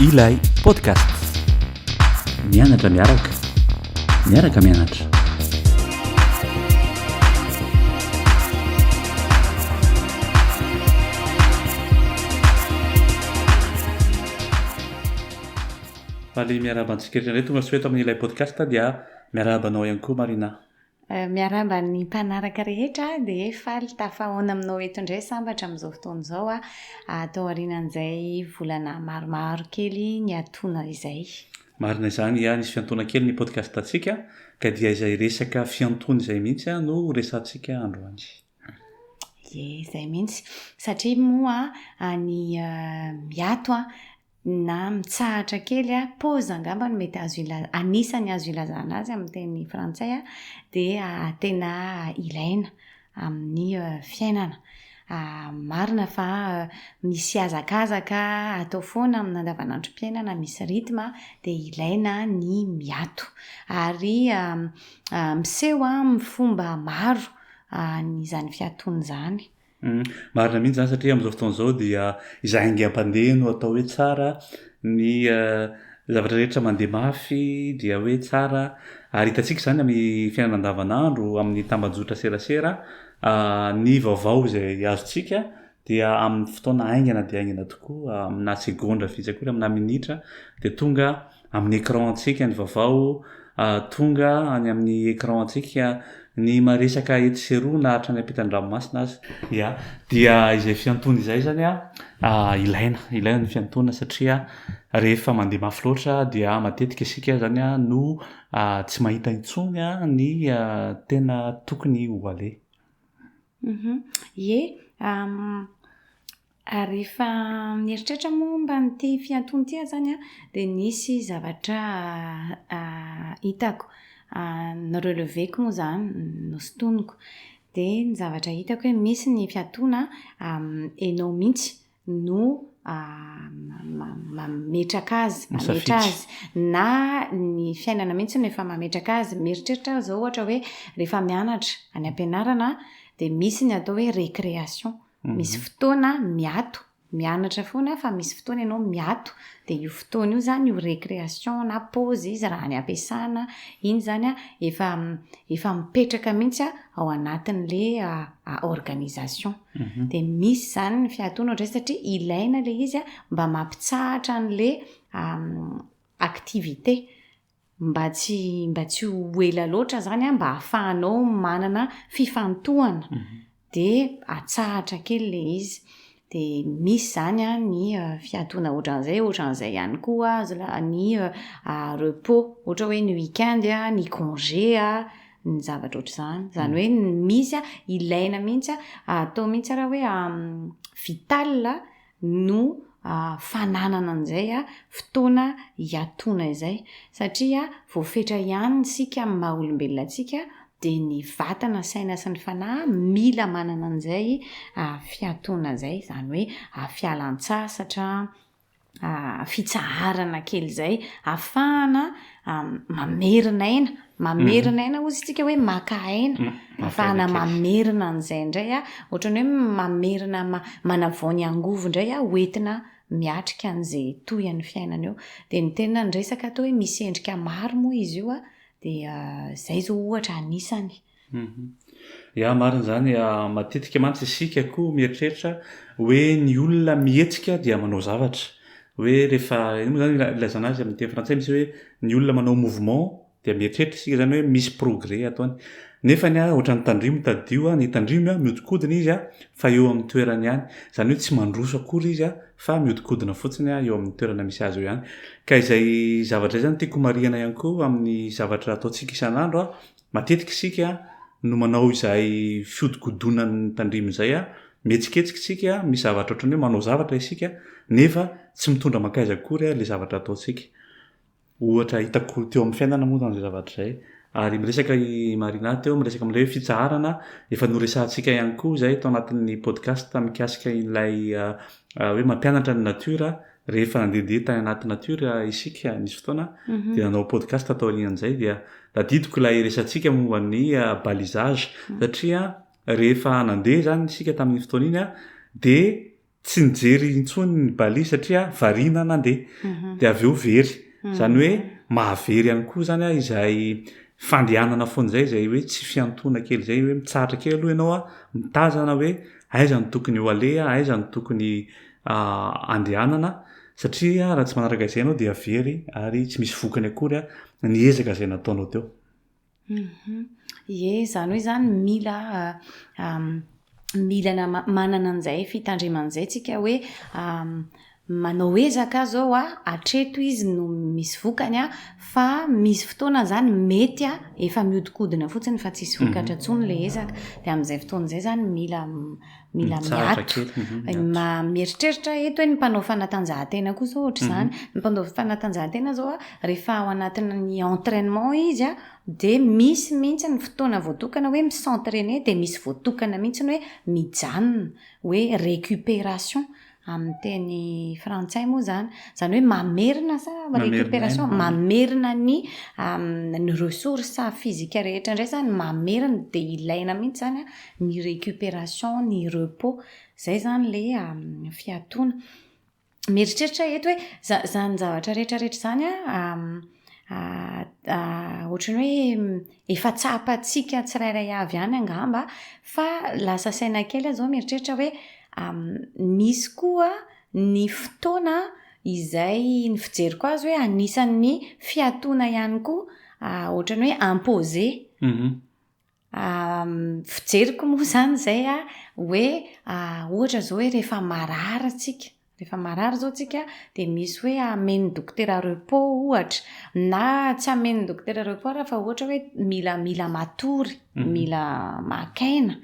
Ilay podcast. Mianatra miaraka. Miaraka mianatra. Faly miarahaba antsika rehetra indray tonga soa eto amin'ny ilay podcast dia miarahaba anao ihany koa Marina. Miarahaba ny mpanaraka rehetra dia faly tafahaona aminao eto indray sambatra amin'izao fotoana izao aho tao aorianan'izay volana maromaro kely niatoana izay. Marina izany Yah, nisy fiantoana kely ny podcast antsika ka dia izay resaka fiantoana izay mihitsy no ho resahantsika androany. Ie, izay mihitsy. Satria moa ny miato na mitsahatra kely a, pause angamba no mety azo ilazana, anisany azo ilazana azy amin'ny teny frantsay a, dia tena ilaina amin'ny fiainana. Marina fa misy hazakazaka atao foana amin'ny andavanandrom-piainana, misy rythme a, dia ilaina ny miato. Ary miseho amin'ny fomba maro izany fiatoana izany. Marina mihitsy izany satria amin'izao fotoana izao dia izay haingam-pandeha no atao hoe tsara, ny zavatra rehetra mandeha mafy dia hoe tsara ary hitantsika izany amin'ny fiainana andavanandro, amin'ny tambajotra serasera, ny vaovao izay azontsika dia amin'ny fotoana haingana dia haingana tokoa, aminà segondra vitsy akory, aminà minitra dia tonga Amin'ny écran antsika ny vavao tonga any amin'ny écran antsika ny maresaka etsy sy eroa na hatrany ampitan-dranomasina aza. Ya, dia izay fiantoana izay zany ilaina, ilaina ny fiantoana satria rehefa mandeha mafy loatra dia matetika isika zany no tsy mahita intsony ny tena tokony ho aleha. Ye, Ary rehefa mieritreritra momba an'ity fiantony ity aho izany an, dia nisy zavatra hitako, no-relever-ko moa izany, nosintoniko. Dia ny zavatra hitako hoe misy ny fiantona ianao mihitsy no mametraka azy, mametra azy. Na ny fiainana mihitsy no efa mametraka azy. Mieritreritra aho izao ohatra hoe rehefa mianatra any am-pianarana dia misy ny atao hoe récréation. Misy fotoana miato, mianatra foana fa misy fotoana ianao miato, dia io fotoana io izany io récréation na pause izy raha any am-piasana, iny izany an, efa efa mipetraka mihitsy ao anatin'ilay organisation. Dia misy izany ny fiatoana ohatr'izay satria ilaina ilay izy mba mampitsahatra an'ilay activité. Mba tsy mba tsy ho ela loatra zany an, mba ahafahanao manana fifantohana dia atsahatra kely ilay izy. Dia misy zany an ny fiatoana ohatran'izay, ohatran'izay ihany koa ny repos, ohatra hoe ny week-end, ny congé, ny zavatra ohatr'izany. Izany hoe misy an, ilaina mihitsy an, atao mihitsy ara hoe vital. no fananana an'izay fotoana hiatoana izay. Satria voafetra ihany isika amin'ny maha olombelona antsika dia ny vatana, saina sy ny fanahy mila manana an'izay fiatoana izay. Izany hoe fialan-tsasatra, fitsaharana kely izay, ahafahana mamerina aina mamerina aina ozy tsika hoe maka aina mm, afahana mamerina an'izay indray a ohatrany hoe mamerina manavao ny angovo indray a hoentina miatrika an'izay toy an'ny fiainana eo dia ny tena ny resaka atao hoe misy endrika maro moa izy io a dia izay zao ohatra anisany Ya marina izany, matetika mantsy isika koa mieritreritra hoe ny olona mihetsika dia manao zavatra, hoe rehefa ino moa izany ilazana azy amin'ny teny frantsay misy hoe ny olona manao mouvement dia mieritreritra isika izany hoe misy progrès ataony, nefany a ohatran'ny tandrimo tadidio a, ny tandrimo a miodikodina izy a fa eo amin'ny toerany ihany, izany hoe tsy mandroso akory izy a fa miodikodina fotsiny a eo amin'ny toerana misy azy eo ihany, ka izay zavatra izay izany tiako marihana ihany koa amin'ny zavatra ataontsika isan'andro a Matetika isika no manao izay fihodikodonan'ny tandrimo izay, mihetsiketsika isika, misy zavatra ohatran'ny hoe manao zavatra isika nefa tsy mitondra mankaiza akory ilay zavatra ataontsika. Ohatra hitako teo amin'ny fiainana moa izany izay zavatra izay. Ary miresaka i Marina teo, miresaka amin'ilay hoe fitsaharana, efa noresahantsika ihany koa izay tao anatin'ny podcast mikasika ilay hoe mampianatra ny natiora rehefa nandehandeha tany anaty natiora isika nisy fotoana mhm. dia nanao podcast taorian'izay dia tadidiko ilay resantsika momba ny ah, balisage mhm. satria rehefa nandeha zany isika tamin'ny fotoana iny a ah, dia tsy nijery intsony ny bali satria variana nandeha mhm. dia avy eo very zany hoe mahavery ihany koa zany a ah, izay fandehanana foana zay zay hoe tsy fiantoana kely zay hoe mitsaratra kely aloha ianao a mitazana hoe aizany tokony ho aleha aizany tokony andehanana satria raha tsy manaraka izay ianao dia very ary tsy misy vokany akory ny ezaka izay nataonao teo. Mhm. Ie, izany hoe izany mila mila manana an'izay fitandremana izay tsika hoe manao ezaka aza ao a, hatreto izy no misy vokany a, fa misy fotoana izany mety a, efa mihodinkodina fotsiny fa tsisy vokatra mhm. intsony ilay ezaka, dia amin'izay fotoana izay izany mila mila miato. Mieritreritra eto hoe ny mpanao fanatanjahantena koa izao ohatr'izany. Mhm. Ny mpanao fanatanjahantena izao rehefa ao anatin'ny entraînement izy dia misy mihitsy ny fotoana voatokana hoe mi-s'entraîner dia misy voatokana mihitsy ny hoe mijanona, hoe récupération. Amin'ny teny frantsay moa izany, izany hoe mamerina sa récupération, mamerina ny ny ressources physiques rehetra indray izany, mamerina dia ilaina mihitsy izany ny récupération, ny repos. Izay izany ilay fiatoana. Mieritreritra aho eto hoe iza- izany zavatra rehetrarehetra izany an, ohatran'ny hoe. Efa tsapantsika tsirairay avy ihany angamba fa lasa saina kely aho izao mieritreritra hoe misy koa ny fotoana izay ny fijeriko azy hoe anisan'ny fiatoana ihany koa ohatran'ny hoe imposer. Fijeriko moa izany izay hoe ohatra izao hoe rehefa marary tsika Rehefa marary izao tsika dia misy hoe amen'ny dokotera repos ohatra na tsy amen'ny dokotera repos ary fa ohatra hoe mila mila matory, mhm. mila maka aina.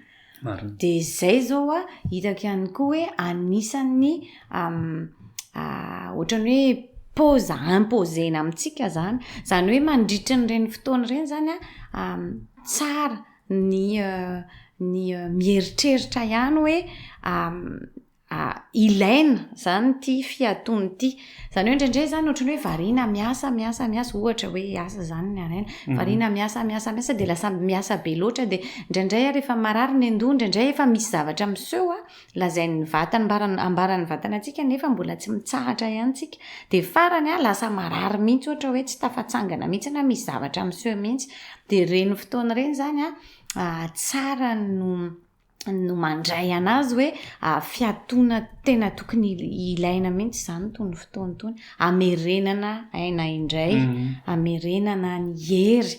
Dia izay izao a, hitako ihany koa hoe anisan'ny ohatrany hoe pause imposena amintsika zany. Zany hoe mandritry ny reny fotoana ireny zany a, tsara ny ny mieritreritra ihany hoe ilaina izany ity fiatoana ity. Izany hoe indraindray izany ohatran'ny hoe variana miasa, miasa, miasa, ohatra hoe asa izany ny anay, variana miasa, miasa, miasa dia lasa miasa be loatra dia indraindray ary efa marary ny an-doha, indraindray efa misy zavatra miseho an, lazain'ny vatana, ambara- ambaran'ny vatana antsika nefa mbola tsy mitsahatra ihany tsika. Dia farany an, lasa marary mihitsy ohatra hoe tsy tafatsangana mihitsy na misy zavatra miseho mihitsy. Dia ireny fotoana ireny izany an, tsara no. no mandray anazy hoe ah, fiatoana tena tokony ilaina mihitsy izany tony fotoany tony amerenana aina indray mhm. amerenana ny hery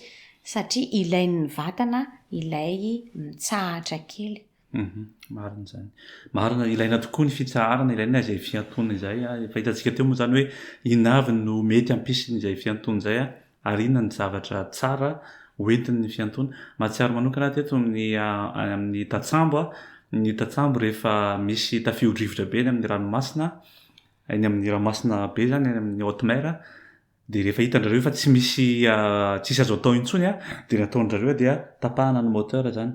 satria ilain'ny vatana ilay mitsahatra kely mhm. marina zany marina ilaina tokoa ny fitsaharana ilaina izay fiatoana izay ah, efa hitantsika teo moa zany hoe inavy no mety ampisiny izay fiantoana izay a ah. ary inona ny zavatra tsara hoentin'ny fiantoana. Mahatsiaro manokana aho teto amin'ny amin'ny tatsambo a, ny tatsambo rehefa misy tafiodrivotra be eny amin'ny ranomasina, eny amin'ny ranomasina be zany eny amin'ny haute mer a, de rehefa hitan-drareo fa tsy misy tsisy azo atao intsony a, de ny ataon-drareo dia tapahana ny moteur zany.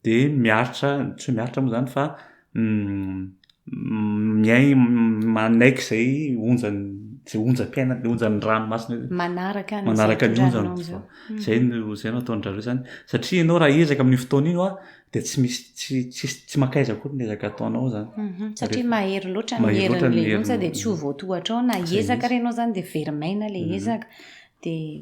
dia miaritra, tsy hoe miaritra moa izany fa miai- manaiky izay onjan'ny, izay onjam-piainany, izay onjan'ny ranomasina eo. Manaraka an'izay Manaraka ny onjany. tondrahanao izao. Mm. Izay no izay no ataon-dry zareo izany. Satria ianao raha hiezaka amin'io fotoana io, ah, dia tsy misy tsy tsy tsy mankaiza akory ny ezaka ataonao izany. Mhm. Satria mahery loatra ny Mahery loatra ny herin'ilay onja herin'ny- dia tsy ho voatohatrao na Izay iezaka mihitsy. ary ianao izany dia very maina ilay Mhm. ezaka. Dia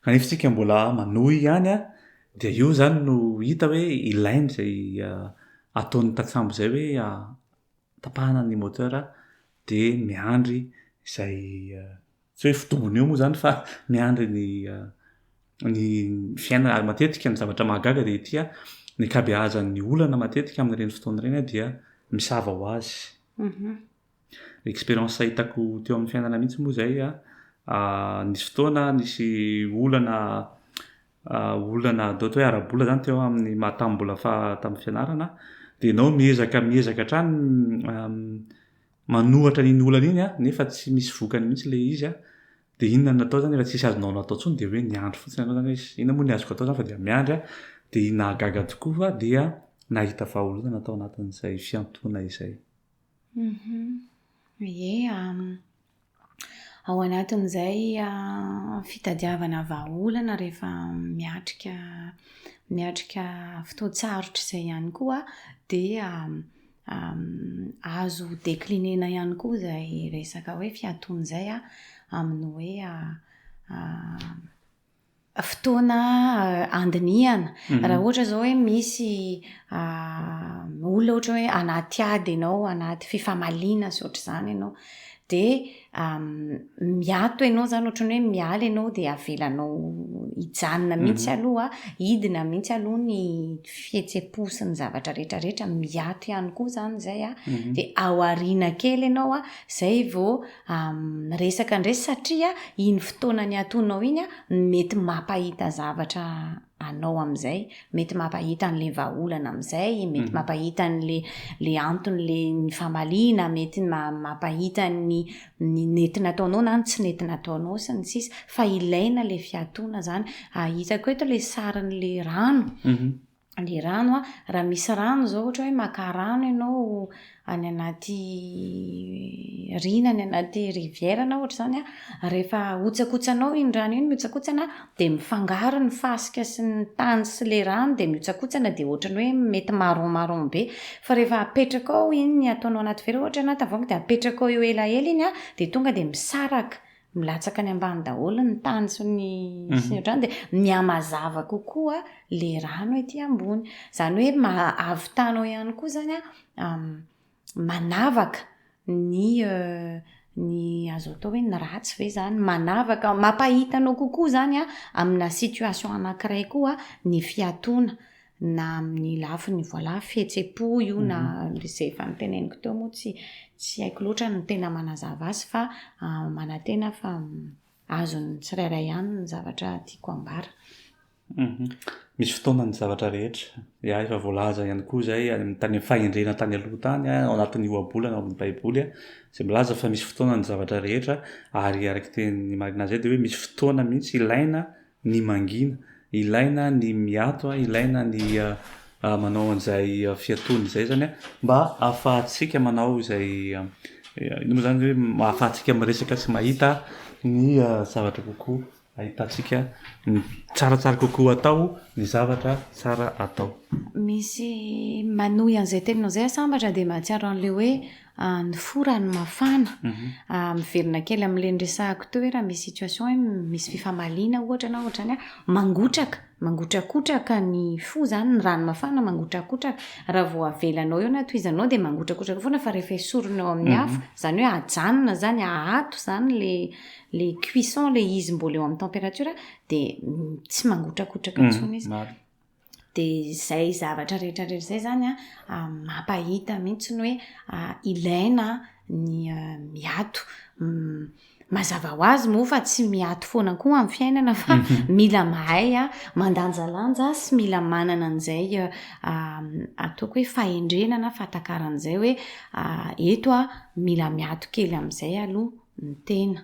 Kanefa isika mbola manohy ihany a, dia io izany no hita hoe ilainy izay ataon'ny tantsambo izay hoe tapahana ny moteur dia miandry izay tsy hoe fidobony eo moa izany fa miandry ny ny fiainana ary matetika ny zavatra mahagaga dia ity a, ny ankabeazan'ny olana matetika amin'ireny fotoana ireny dia misava ho azy. Expérience hitako teo amin'ny fiainana mihitsy moa izay a, nisy fotoana nisy olana olana atao hoe ara-bola zany teo amin'ny maha tamin'ny mbola faha tamin'ny fianarana dia ianao miezaka miezaka hatrany manohatra an'iny olana iny a, nefa tsy misy vokany mihitsy ilay izy a, dia inona no natao zany rehefa tsisy azonao natao intsony dia hoe niandry fotsiny ianao zany hoe iss inona moa ny azoko atao zany fa dia miandry a, dia nahagaga tokoa fa dia nahita vahaolana tao anatin'izay fiantohana izay. Ie, ao anatin'izay fitadiavana vahaolana rehefa miatrika miatrika fotoan-tsarotra izay ihany koa dia azo decliner-na ihany koa izay resaka hoe fiatoana izay amin'ny hoe fotoana handinihana. Raha ohatra izao hoe misy olona ohatra hoe anaty ady ianao, anaty fifamaliana sy ohatr'izany ianao, dia miato ianao izany, ohatran'ny hoe miala ianao dia avelanao hijanona mihitsy aloha, hidina mihitsy aloha ny fihetseham-po sy ny zavatra rehetrarehetra, miato ihany koa izany izay an, dia ao aoriana kely ianao an, izay vao. miresaka indray satria iny fotoana niatoanao iny no mety mampahita zavatra anao amin'izay, mety mampahita an'ilay vahaolana amin'izay, mety mhm. mampahita an'ilay anton'ilay ny famaliana, mety mampahita ny ny nety nataonao na ny tsy nety nataonao sy ny sisa fa ilaina ilay fiatoana izany. Ahitako eto ilay sarin'ilay rano. Mhm. le rano a, raha misy rano zao ohatra hoe maka rano ianao any anaty riana any anaty rivière na ohatra zany a rehefa ahotsakotsanao iny rano iny mihotsakotsana de mifangaro ny fasika sy ny tany sy le rano de mihotsakotsana de ohatrany hoe mety marron marron be fa rehefa apetrakao iny ataonao anaty vera ohatra na tavoahangy de apetrakao eo elaela iny a de tonga de misaraka milatsaka any ambany daholo ny tany sy ny sy ny otrany dia mihamazava kokoa le rano ety ambony. Izany hoe mahavitanao ihany koa zany a manavaka ny euh, ny azo atao hoe ny ratsy ve zany manavaka mampahitanao kokoa zany a amina situation anankiray koa ny fiatoana na amin'ny lafiny voilà fihetsem-po io na mhm. izay efa noteneniko teo moa tsy tsy haiko loatra ny tena manazava azy fa ah, manantena fa mm, azon'ny tsirairay ihany ny zavatra tiako ambara. Mhm. Misy fotoana ny zavatra rehetra ya efa voalaza ihany koa izay tany amin'ny fahendrena tany aloha tany ah, ao anatin'ny ohabolana ao amin'ny baiboly ah, izay milaza fa misy fotoana ny zavatra rehetra ary araka teny marina izay dia hoe misy fotoana mihitsy ilaina ny mangina, ilaina ny miato a, ilaina ny manao an'izay fiatoana izay zany a, mba ahafahantsika manao izay ino moa zany hoe ahafahantsika miresaka sy mahita ny zavatra kokoa ahitantsika ny tsaratsara kokoa atao ny zavatra tsara atao. Misy manohy an'izay teninao izay aho sambatra dia mahatsiaro an'ilay hoe ny fo raha ny mafana miverina kely amin'ilay niresahako teo hoe raha misy situation hoe misy fifamaliana ohatra na ohatrany a mangotraka mangotrakotraka ny fo zany ny rano mafana mangotrakotraka raha vao avelanao eo na tohizanao dia mangotrakotraka foana fa rehefa esorina eo amin'ny afo zany hoe ajanona zany ahato zany le le cuisson le izy mbola eo amin'ny temperature dia tsy mangotrakotraka intsony izy. Dia izay zavatra rehetra rehetra izay izany an, mampahita mihitsy ny hoe ilaina ny miato. Mazava ho azy moa fa tsy miato foana koa amin'ny fiainana fa mila mahay mandanjalanja sy mila manana an'izay ataoko hoe fahendrena na fahatakarana izay hoe eto aho mila miato kely amin'izay aloha ny tena.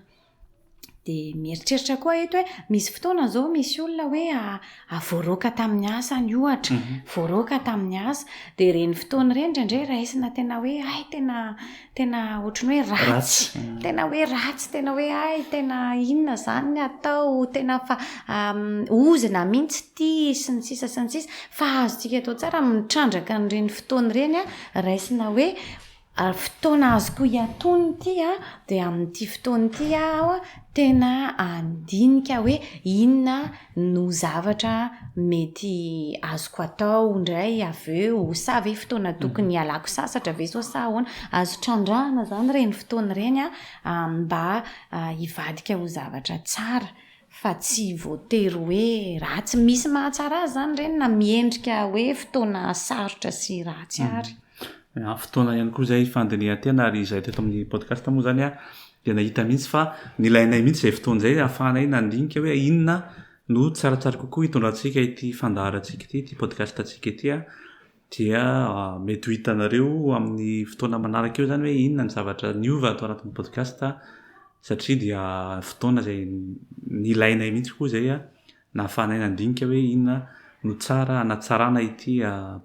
Dia mieritreritra koa eto hoe misy fotoana izao misy olona hoe voaroaka tamin'ny asany ohatra, mhm. voaroaka tamin'ny asa, dia ireny fotoana ireny indraindray raisina tena hoe ay tena tena ohatran'ny hoe ratsy, mhm. tena hoe ratsy, tena hoe ay tena inona izany ny atao, tena fa ozina mihitsy ity sy ny sisa sy ny sisa, fa azontsika atao tsara mitrandraka an'ireny fotoana ireny raisina hoe Ary fotoana azoko hiatoana ity an, dia amin'ity fotoana ity aho tena handinika hoe inona no zavatra mety azoko atao indray avy eo, sa ve fotoana tokony hialako sasatra ve sao sa ahoana. Azo trandrahana izany ireny fotoana ireny an, mba hivadika ho zavatra tsara. Fa tsy voatery hoe ratsy. Misy mahatsara azy izany ireny na miendrika hoe fotoana sarotra sy ratsy ary. Fotoana ihany koa izay fandinihan-tena ary izahay teto amin'ny podcast moa izany dia nahita mihitsy fa nilainay mihitsy izay fotoana izay ahafahanay nandinika hoe inona no tsaratsara kokoa hitondrantsika ity fandaharantsika ity, ity podcast-ntsika ity. dia mety ho hitanareo amin'ny fotoana manaraka eo izany hoe inona ny zavatra niova ato anatin'ny podcast satria dia fotoana izay nilainay mihitsy koa izay nahafahanay nandinika hoe inona no tsara hanatsarana ity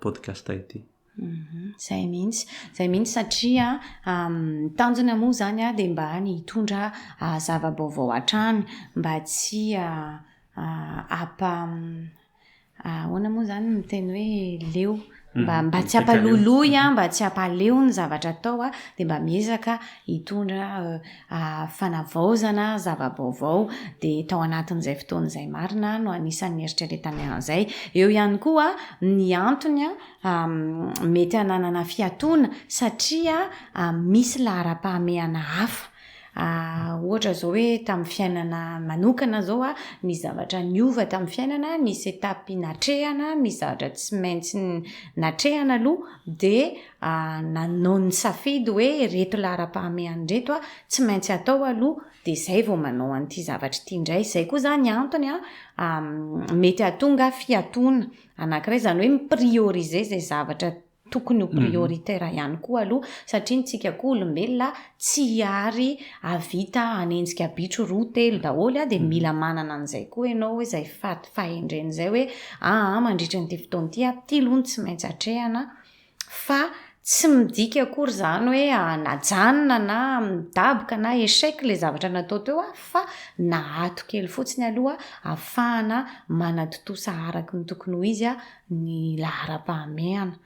podcast ity. Mhm. Zay mihitsy, zay mihitsy satria um, tanjona moa zany a dia mba ny hitondra uh, zava-baovao hatrany mba tsy uh, uh, apa, um, Ahoana moa izany ny miteny hoe leo? Mba mba tsy hampaloloy an, mba tsy hampaleo ny zavatra atao an, dia mba miezaka hitondra fanavaozana, zava-baovao, dia tao anatin'izay fotoana izay marina no anisan'ny nieritreretany an'izay. Eo ihany koa ny antony mety hananana fiatoana satria misy laharam-pahamehana hafa. Ohatra izao hoe tamin'ny fiainana manokana izao an, misy zavatra niova tamin'ny fiainana, nisy étape natrehana, misy zavatra tsy maintsy natrehana aloha, dia nanao ny safidy hoe ireto laharam-pahamehana ireto an, tsy maintsy atao aloha, dia izay vao manao an'ity zavatra ity indray. Izay koa izany antony mety hahatonga fiatoana anankiray, izany hoe mi-prioriser izay zavatra tokony ho prioritaire ihany koa aloha satria ny tsika koa olombelona tsy ary ahavita hanenjika bitro roa telo daholo a, dia mila manana an'izay koa ianao hoe izay fahendrena izay hoe aa mandritra an'ity fotoana ity a, ity aloha no tsy maintsy atrehana fa tsy midika akory izany hoe najanona na midaboka na échec ilay zavatra natao teo a, fa naato kely fotsiny aloha ahafahana manatontosa araka ny tokony ho izy a. ny laharam-pahamehana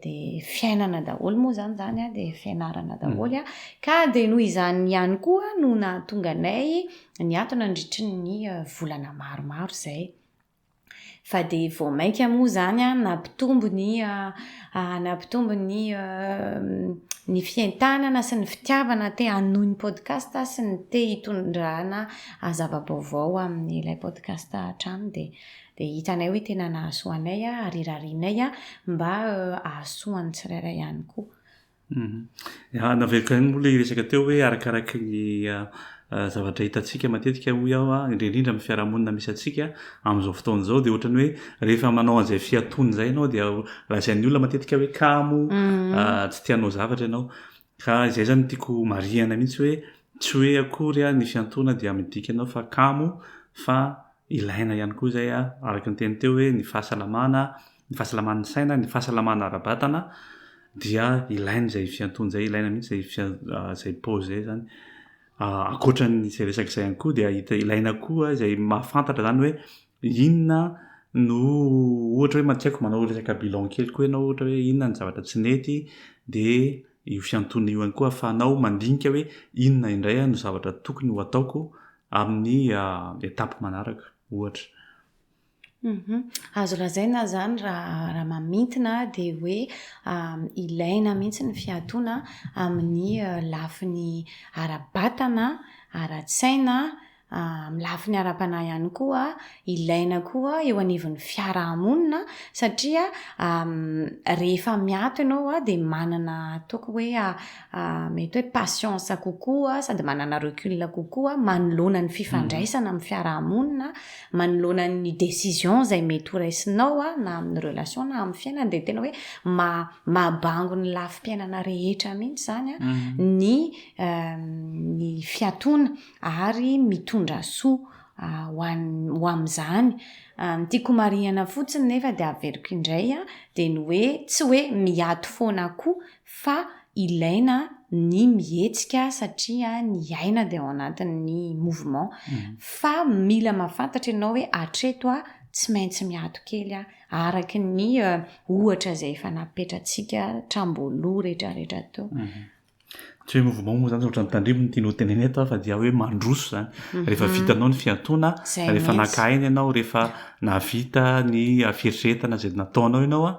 dia fiainana daholo moa izany izany a, dia fianarana daholo a, ka dia noho izany ihany koa no nahatonga anay niato nandritry ny volana maromaro izay. Fa dia vao mainka moa izany a, nampitombo ny nampitombo ny ny fientanana sy ny fitiavana te hanohy ny podcast sy ny te hitondrana zava-baovao amin'ilay podcast hatrany dia. Dia hitanay hoe tena nahasoa anay ary rarianay mba hahasoa ny tsirairay ihany koa. Eha navela kay moa ilay resaka teo hoe arakaraky ny zavatra hitantsika matetika hoy aho a, indrindra indrindra amin'ny fiarahamonina misy antsika amin'izao fotoana izao dia ohatran'ny hoe rehefa manao an'izay fiatoana izay ianao dia lazain'ny olona matetika hoe kamo, tsy te hanao zavatra ianao. Ka izay izany no tiako homarihana mihitsy hoe tsy hoe akory ny fiantoana dia midika anao fa kamo fa Ilaina ihany koa izay araka ny teny teo hoe ny fahasalamana, ny fahasalaman'ny saina, ny fahasalamana ara-batana dia ilaina izay fiantoana izay, ilaina mihitsy izay fian- izay pause izay izany. Ankoatra an'izay resaka izay ihany koa dia hita ilaina koa izay mahafantatra izany hoe inona no ohatra hoe tsy haiko manao resaka bilan kely koa ianao ohatra hoe inona ny zavatra tsy nety dia io fiantoana io ihany koa ahafahanao mandinika hoe inona indray no zavatra tokony ho ataoko amin'ny étape manaraka ohatra. Mhm. Azo lazaina zany raha raha mamintina dia hoe ilaina mihitsy ny fiatoana amin'ny eh, lafiny ara-batana, ara-tsaina, ah, amin'ny lafiny ara-panahy ihany koa, ilaina koa eo anivon'ny fiarahamonina satria ah, rehefa miato ianao dia manana ataoko hoe ah, mety hoe patience kokoa sady manana recul kokoa manoloana ny fifandraisana amin'ny fiarahamonina, manoloana ny décision izay mety ho raisinao na amin'ny relation na amin'ny fiainana dia tena hoe mahabango ny lafim-piainana rehetra mihitsy izany mhm. ny euh, ny fiatoana ary mitondra soa euh, ho an'ny ho amin'izany euh, ny tiako marihana fotsiny nefa dia averiko indray dia ny hoe tsy hoe miato foana koa fa ilaina ny mihetsika satria ny aina dia ao anatin'ny mouvement fa mila mahafantatra ianao hoe hatreto aho tsy maintsy miato kely aho araka ny ohatra izay efa napetratsika tramboaloha retraretra teo. Tsy hoe mouvement moa izany ohatran'ny tandremo no tiany ho tenenina eto fa dia hoe mandroso izany rehefa vitanao ny fiatoana rehefa naka aina ianao rehefa nahavita ny fieritreretana izay nataonao ianao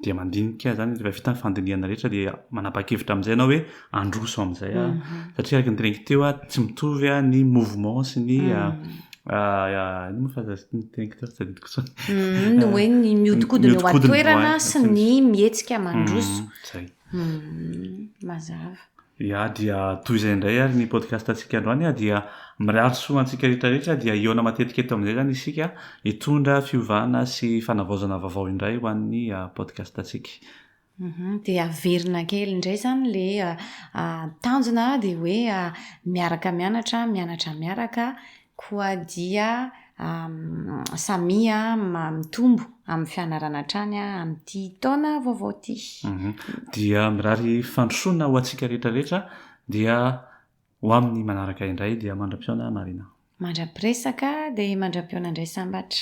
dia mandinika izany rehefa vita ny fandinihana rehetra dia manapa-kevitra amin'izay ianao hoe handroso amin'izay aho satria araka ny teneniko teo aho tsy mitovy aho ny mouvement sy ny inona moa fa zay ny teneniko teo tsy tadidiko intsony ny hoe ny mihodinkodina eo an-toerana sy ny mihetsika mandroso izay Humm mazava. Ya dia toy izay indray ary ny podcast antsika androany a dia mirary soa antsika rehetra rehetra dia hihaona matetika eto amin'izay izany isika hitondra fiovana sy fanavaozana vaovao indray ho an'ny podcast antsika. Humm dia averina kely indray izany ilay tanjona dia hoe miaraka mianatra, mianatra miaraka, Koa dia samia mitombo amin'ny fianarana hatrany amin'ity taona vaovao ity. Dia mirary fandrosoana ho antsika rehetra rehetra dia ho amin'ny manaraka indray dia mandra-pihaona Marina. Mandra-piresaka dia mandra-pihaona indray sambatra.